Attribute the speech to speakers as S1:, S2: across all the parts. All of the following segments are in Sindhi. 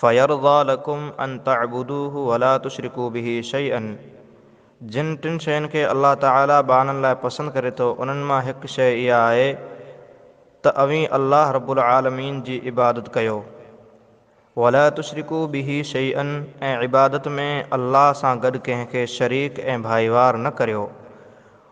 S1: فيرضي لڪم ان تعبدوه ولا تشرڪو به شيئا جن ٽن شين کي الله تعالي ٻانهن لاء پسند ڪري ٿو انهن مان هڪ شيء اها آهي ته اوهين الله رب العالمين جي عبادت ڪيو ولا تشرڪو به شيئا ۽ عبادت ۾ الله سان گڏ ڪنهن کي شريڪ ۽ ڀائيوار نه ڪريو.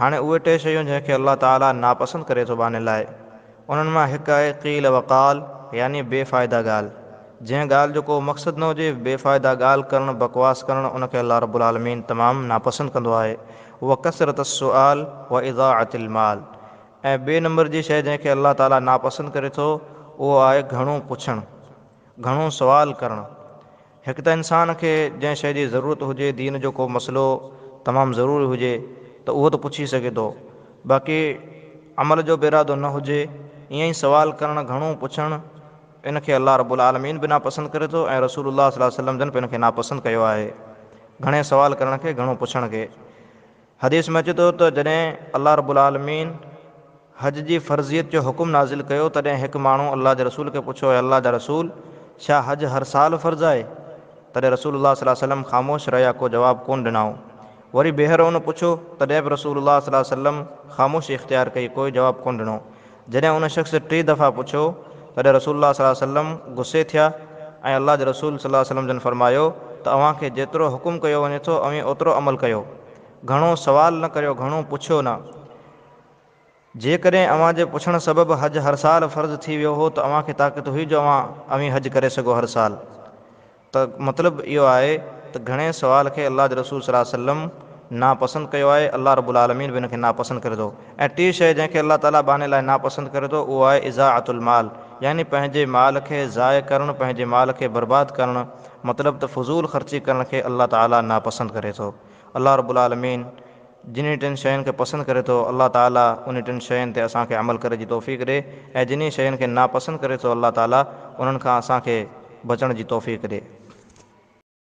S1: هاڻي اهي ٽي شيون جنهن کي الله تعالي ناپسند ڪري ٿو ٻانهي لاهي، انهن مان هڪ آهي قيل و قال يعني بي فائده ڳالهه، جنهن ڳالهه جو ڪو مقصد نه هجي، بي فائده ڳالهه ڪرڻ، بڪواس ڪرڻ، ان کي الله رب العالمين تمام ناپسند ڪندو آهي، و ڪثرت السؤال و اضاعت المال ۽ ٻئي نمبر جي شيء جنهن کي الله تعالي ناپسند ڪري ٿو اهو آهي گهڻو پڇڻ، گهڻو سوال ڪرڻ، هڪ ته انسان کي جنهن شيء جي ضرورت هجي، دين جو ڪو مسئلو تمام ضروري هجي ته اهو ته پڇي سگهي ٿو، باقي عمل جو به ارادو نه هجي، ائين ئي سوال ڪرڻ، گهڻو پڇڻ، ان کي الله رب العالمين به ناپسند ڪري ٿو ۽ رسول الله صلي الله عليه وسلم جن به ان کي ناپسند ڪيو آهي. گهڻي سوال ڪرڻ کي، گهڻو پڇڻ کي. حديث ۾ اچي ٿو ته جڏهن الله رب العالمين حج جي فرضيت جو حڪم نازل ڪيو تڏهن هڪ ماڻهو الله جي رسول کي پڇيو اي الله جا رسول ڇا حج هر سال فرض آهي؟ تڏهن رسول الله صلي الله عليه وسلم خاموش رهيا ڪو جواب ڪونه ڏنائون وري ٻيهر ان پڇيو تڏهن به رسول الله صلي الله عليه وسلم خاموشي اختيار ڪئي ڪوئي جواب ڪونه ڏنو جڏهن ان شخص ٽي دفعا پڇيو، تڏهن رسول الله صلي الله عليه وسلم غصي ٿيا ۽ الله جي رسول صلي الله عليه وسلم جن فرمايو ته اوهان کي جيترو حڪم ڪيو وڃي ٿو اوهين اوترو عمل ڪيو. گهڻو سوال نه ڪريو، گهڻو پڇيو نه. جيڪڏهن اوهان جي پڇڻ سبب حج هر سال فرض ٿي ويو هو ته اوهان کي طاقت هئي جو اوهان اوهين حج ڪري سگهو هر سال. ته مطلب اهو آهي ته گهڻي سوال کي الله جي رسول صلي وسلم ناپسند ڪيو آهي، الله رب العالمين به ان کي ناپسند ڪري ٿو ۽ ٽي شيء جنهن کي الله تعالي ٻانهي لاء ناپسند ڪري ٿو اهو آهي اضاعة المال يعني پنهنجي مال کي ضايع ڪرڻ پنهنجي مال کي برباد ڪرڻ مطلب ته فضول خرچي ڪرڻ کي الله تعالي ناپسند ڪري ٿو الله رب العالمين جنھن ٽن شين کي پسند ڪري ٿو الله تعالي انھي ٽن شين تي اسان کي عمل ڪري جي توفيق ڏي ۽ جنھن شين کي ناپسند ڪري ٿو الله تعالي انھن کان اسان کي بچڻ جي توفيق ڏي.